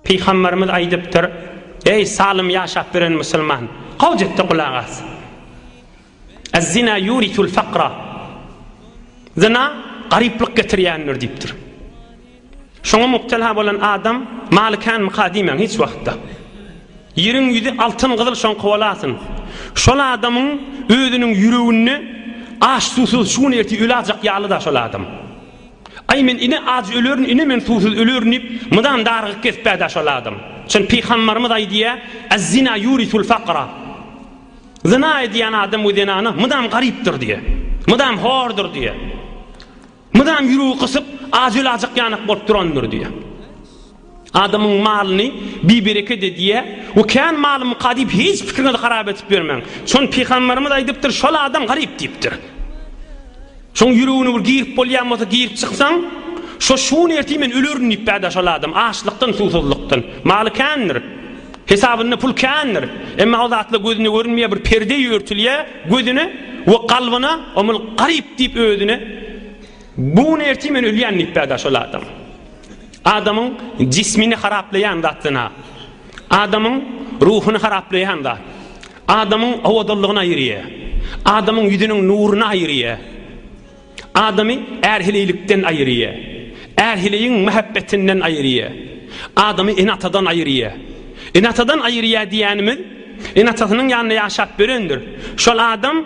Pygamberimiz aýdypdyr, Eý, salym ýaşap ýören musulman, gowja etde gulak as. Ez-zina ýurisul fakra, zyna garyplyk getirýändir diýipdir. Şoňa mubtela bolan adam maly känmika diýmäň hiç wagtda. Ýeriň ýüzi altyn-gyzyl şoňka bolasyn. Şol adamyň özüniň ýüreginde aç-susuz şu gün ertir ölajak ýaly-da şol adam. Aý men ine aç ölerin ine men suwsuz ölerin diýip mydam dargyk kespädä şol adam. Şony pygambarymyz aýdýa, Azzina yurisul fakra. Zyna edýän adam we zenana mydam garypdyr diýe. Mydam hordur diýe. Mydam ýüregi gysyp aç ölajak ýanak bolup durandyr diýe. Adamyň malyny bibereket edýär we kän malymyka diýip hiç pikiriňizi harap edip ýörmäň. Şony pygamberimiz aýdypdyr, şol adam garyp diýipdir. Şoň ýüregine bir girip bolýan bolsa girip çyksaň, şo şuny ertir men ölerin diýip bärde şol adam açlykdan suwsuzlykdan. Maly kändir. Hesabynda pul kändir. Emma o zatlar gözüne görünmeýär bir perde örtülýär gözüne we kalbyna omul garyp diýip özüne buny ertir men ölýän diýip bärde şol adam. Adamyň jismini haraplaýan zat zyna. Adamyň ruhuny haraplaýan zat. Adamyň owadanlygyny aýyrýar. Adamyň ýüzüniň nuruny aýyrýar. Adamy ärhililikden aýyrýar. Ärhiligiň mähebbetinden aýyrýar. Adamy ene-atadan aýyrýar. Ene-atadan aýyrýar diýýänimiz, ene-atasynyň ýanynda ýaşap ýörendir. Şol adam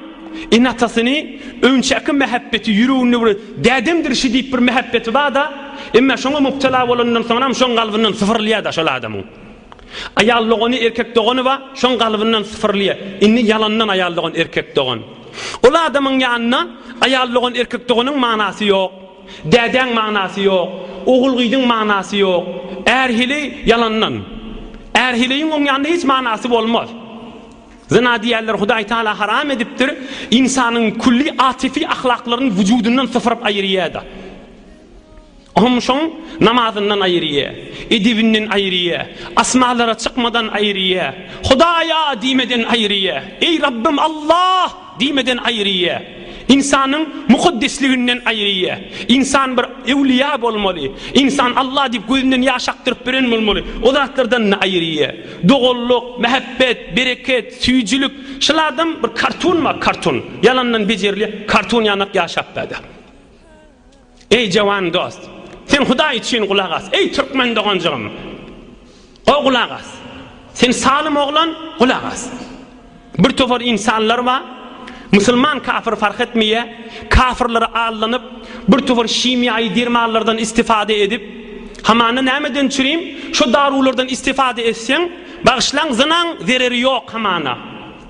Ene-atasyny öňçäki mähebbeti ýüreginde bir dädemdir şi diýip bir mähebbeti bar-da, emma şoňa mübtela bolanyndan soňram şoň galbyndan sypyrylýar-da şol adamyň. Aýal dogany, erkek dogany bar, şoň galbyndan sypyrylýar. Indi ýalandan aýal dogan, erkek dogan. Ol adamyň ýanynda aýal dogan, erkek doganyň manasy ýok. Dädäň manasy ýok. Ogul-gyzyň manasy ýok. Är hili ýalandan. Är hiliň oň ýanynda hiç manasy bolmaz. Zyna diýýärler, Hudaý Taala haram edipdir, ynsanyň külli atifi ahlaklaryny wujudyndan sypyryp aýyrýar-da. Hum-şum namazyndan aýyrýar, edebinden aýyrýar, asmanlara çykmadan aýyrýar, Hudaý-a! diýmeden aýyrýar. Eý, Rabbym, Alla! Diýmeden aýryýa. Ynsanyň mukaddesliginden aýryýa. Ynsan bir ewliýa bolmaly. Ynsan Alla diýip gözünden ýaş akdyryp biren bolmaly. O zatlardan-da aýryýa. Doganlyk, mähebbet, bereket, süýjülik. Şol adam bir kartun bar, kartun. Ýalandan bejerilýä. Kartun ýanak ýaşap bada. Eý jawan dost! Sen Hudaý üçin gulak as! Eý türkmen doganjygym! O gulak as! Sen salym oglan, gulak as! Bir topar ynsanlar bar, musulman kafir fark etmeýä, kafirlere aldanyp, bir topar himiýaýy dermanlardan istifada edip, hamana nämeden çürim, şo daruwlardan istifada etseň, bagyşlaň zynaň zereri ýok hamana.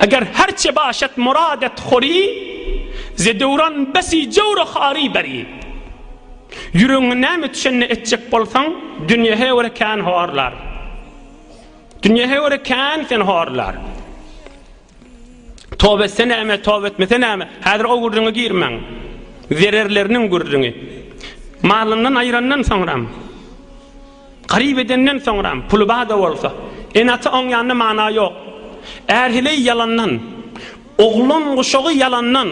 Eger herçe başet muradet hori, Ze döwran besi jewre hari beri. Ýüregiňe näme düşenini etjek bolsaň, Dünýe heure kän horlar. Dünýe heure kän seni horlar. Toba etse näme, toba etmese näme, häzir o gürrüňe girmäň. Zererleriniň gürrüňi. Malyndan aýrandan soňram, Garyp edenden soňram, puly bar-da bolsa, ene-ata oňýanda mana ýok. Ärheleý ýalandan, oglan guşagy ýalandan,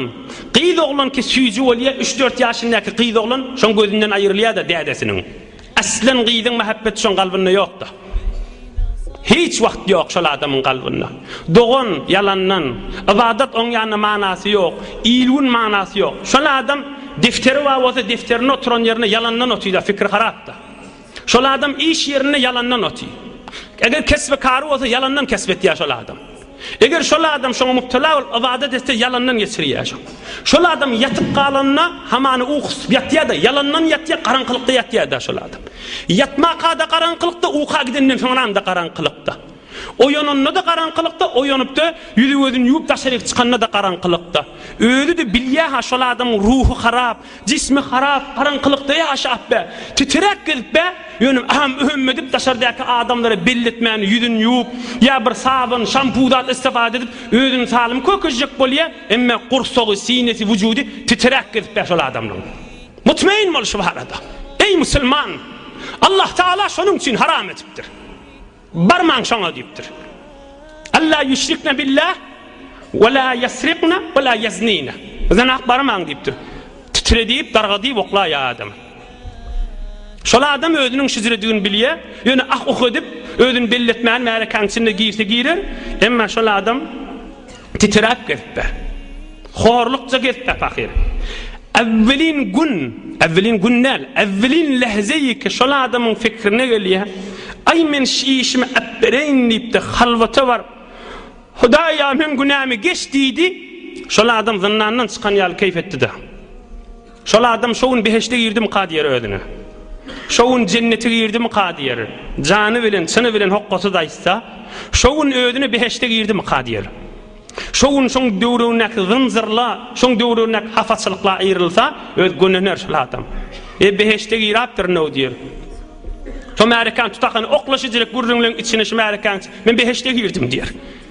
gyz oglanky süýji bolýa, üç-dört ýaşyndaky gyz oglan şoň gözünden aýrylýa-da dädesiniň. Aslan gyzyň mähebbeti şoň galbynda ýok-da. Hiç wagt ýok şol adamyň galbynda. Dogan ýalandan, ybadat oňýanda manasy ýok, il-gün manasy ýok. Şol adam defteri bar bolsa defterinde oturan ýerinde ýalandan otyr-da, fikri harap-da. Şol adam iş ýerinde ýalandan oty. Eger kesbi kary bolsa ýalandan kesp etýär şol adam. Eger şol adam şoňa müptela bolup ybadat etse ýalandan geçirýär şo. Şol adam ýatyp galanda hamany ukusy ýatýar-da, ýalandan ýatýar, garaňkylykda ýatýar-da şol adam. Ýatmaka-da garaňkylykda, uka gidenden soňram-da garaňkylykda. Oýananda-da garaňkylykda, oýanyp-da, ýüzi-gözüni ýuwup daşaryk çykanda-da garaňkylykda. Özi-de bilýä-ha, şol adamyň ruhy harap, jismi harap, garaňkylykda ýaşap-a, titiräp gezip-ä, ýöne äm-öm edip, daşardaky adamlara belli etmän ýüzüni ýuwup, ýa bir sabyn, şampu zat istifada edip, özüni salym kökezjek bolýa, emma gursagy, sinesi, wujudy titiräp gezip-ä şol adamlaň. Mutmain bol şu barada. Eý, musulman! Allahtagala şonuň üçin haram edipdir. Barmaň şoňa diýipdir. Alla ýüşrikne billah we la ýesrikne we la ýeznine. Zynak barmaň diýipdir. Titre diýip, darga diýip oklaýar adamy. Şol adam özüniň şizredigini bilýär, ýöne ah-uh edip, özüni belli etmän märekäniň içinde girse girer, emma şol adam Titräp gezipdir. Horlukja gezipdir pahyr. Äwwelin gün, äwwelin gün däl, äwwelin lähzeýiki şol adamyň fikrine gelýär, Aý, men şi işimi äpbereýin diýipdir, halwata baryp, Hudaý-a, meň günämi geç diýdi, şol adam zyndandan çykan ýaly keýp etdi-de. Şol adam şo gün behişde girdimikä diýer özüne. Şo gün jennete girdimikä diýer. Jany bilen, çyny bilen hokgasyz aýtsa, şo gün özüne behişde girdimikä diýer. Şo gün şoň döwrebindäki zynjyrla, şoň döwrebindäki hapaçylykla aýrylsa, öz gönener şol adam. E, behişde girapdyr-now diýer. Şo märekäni tutakany oklaşyjyrek gürrüňleň içine şu märekäni, men behişde girdim diýer.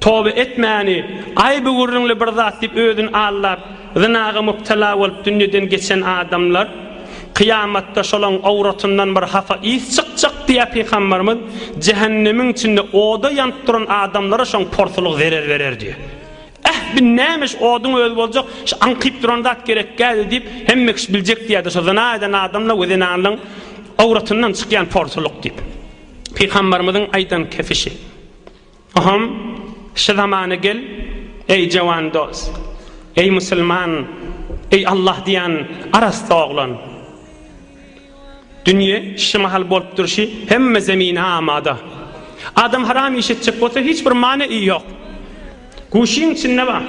Toba etmäni, aýby gürrüňli bir zat diýip özüni aldap, zynaga mübtela bolup dünýeden geçen adamlar, kyýamatda şolaň owratyndan bir hapa ys çykjak diýýär Pygamberimiz, jähennemiň içinde oda ýanyp duran adamlara şoň porsulyk zerer berer diýýär. Äh, bu näme şu oduň özi boljak, şu aňkyp duran zat gerekgädi diýip, hemme kişi biljek diýýärdi, şu zyna eden adamlaň we zenanlaň owratyndan çykýan porsulyk diýip. Pygamberimiziň aýdan kefişi. Hom, şu zamana gel, eý jawan dos! Eý musulman, eý Allah diýen arassa oglan! Dünýe şu mahal bolup durşy hemme zemine amada. Adam haram iş etjek bolsa hiç bir many i ýok. Guşyň içinde bar.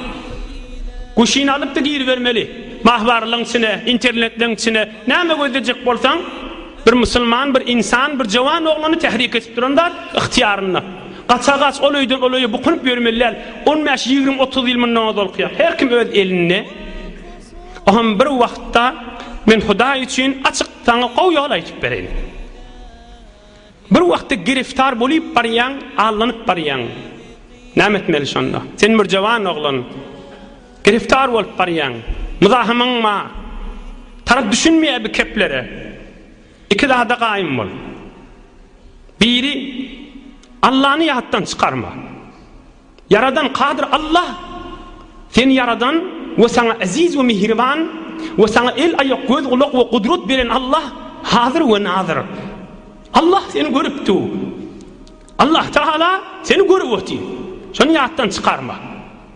Guşyny alyp-da giribermeli. Mahbarlygyň içine, internetleň içine näme gözlejek bolsaň, Bir musulman, bir ynsan, bir jowan oglany tährik edip duran zat, ygtyýarynda. Gaça gaç, ol öýden ol öýe bukunyp ýörmeli däl. On bäş, ýigrimi, otuz ýyl mundan ozal kyýat. Her kim öz elinde. O hem bir wagtda, men Hudaý üçin açyk saňa gowy ýol aýdyp bereýin. Bir wagtda giriftar bolyp barýaň, allanyp barýaň. Näme etmeli şonda? Sen bir jowan oglan. Giriftar bolup barýaň. Myzahymyň ma tarap düşünmeýär bi keplere. Iki zada gaýym bol. Biri Allany ýatdan çykarma. Ýaradan kadyr Allah seni ýaradan we saňa eziz we mihriban we saňa el aýak göz gulak we gudrat beren Allah hazyr we nazyr. Allah seni görüp dur. Allah Taala seni görüp otyr. Şony ýatdan çykarma.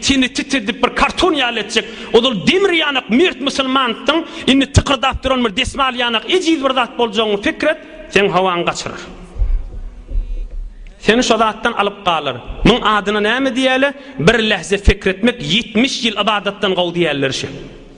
Seni titredip bir karton ýaly etjek ozal demir ýanak mert musulmandyň indi tykyrdap duran bir desmal ýanak ejiz bir zat boljagyňy pikir et seň howaňy gaçyrar seni şo zatdan alyp galar muň adyna näme diýäle bir lähze pikir etmek ýetmiş ýyl ybadatdan gowy diýäller şe.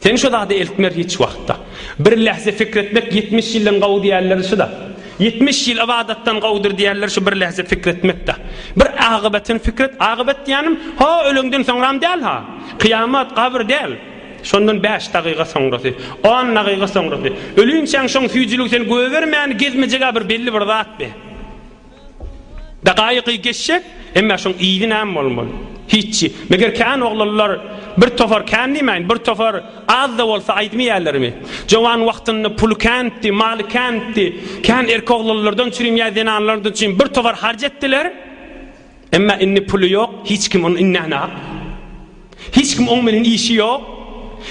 Sen şu zady eltmer hiç wagtda. Bir lähze fikr etmek ýetmiş ýyldan gowy diýerler şuda. Ýetmiş ýyl ybadatdan gowudyr diýerler şu bir lähze fikr etmekde. Bir agybetin fikr et, agybat diýänim ho öleňden soňram däl ha. Kyýamat, gabyr däl. Şondan bäş dagyga soňrasy, on dagyga soňrasy. Ölinçäň şoň süýjüligi seni gögermäni gezmejegä bir belli bir zat be. Dagaýygy geçjek, emmä şoň yzy näme bolmaly? Hiççi. Meger kän oglanlar bir topar kän diýmäýin, bir topar az-da bolsa aýdmyýärlermi? Jowan wagtynda puly känitdi, maly känitdi. Kän erki oglanlardan çürim ýa zenanlardan çürim bir topar harç etdiler. Emmä indi puly ýok, hiç kim ony inänak. Hiç kim oň bilen işi ýok.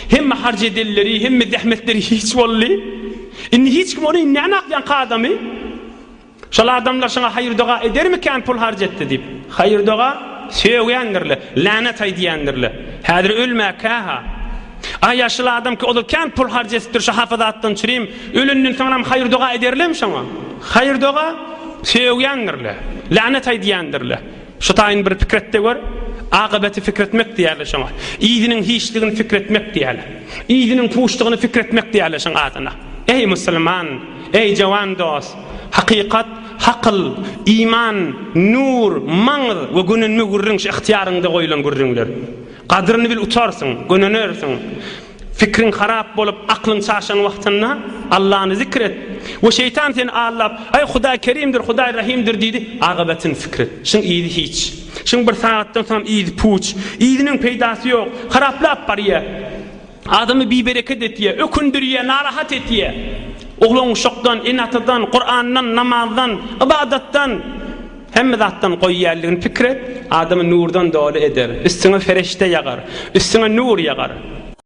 Hemme harç edenleri, hemme zähmetleri hiç boldy. Indi hiç kim ony inänak ýaňky adamy. Şol adamlar şoňa haýyr-doga edermikän pul harç etdi diýip? Haýyr-doga sögýändir-le, länet aýdýandyr-le. Häzir ölmäkä-ha. A ýaşyl adam ki, ol-a kän pul harç edipdir şo hapa zatdan çürim. Ölenden soňram haýyr-doga ederlem şoňa? Haýyr-doga sögýändir-le, länet aýdýandyr-le. Şu taýyn bir pikir et-de gör, Akybaty pikir etmek diýerler şoňa. Yzynyň hiçligini pikir etmek diýerler. Yzynyň puşdugyny pikir etmek diýerler şoň adyna. Eý, musulman! Eý, jowan dost! Hakykat, hakyl, iman, nur, maňyz we gönenme gürrüň şu ygtyýaryňda goýlan gürrüňler. Gadyryny bil utarsyň, gönenersiň. Pikriň harap bolup, aklyň çaşan wagtynda Allany zikr et. We şeýtan seni aldap, Aý, Hudaý Kerimdir, Hudaý Rahimdir diýdi, agybetyny pikir et. Şuň yzy hiç. Şuň bir sagatdan soň yzy puç. Yzynyň peýdasy ýok. Haraplap barýar. Adamy bibereket etýär, ökündirýär, narahat etýär. Oglan-uşakdan, ene-atadan, Kurandan, namazdan, ybadatdan, hemme zatdan goýýarlygyny pikir et. Adamy nurdan doly eder. Üstüňe ferişde ýagar. Üstüňe nur ýagar.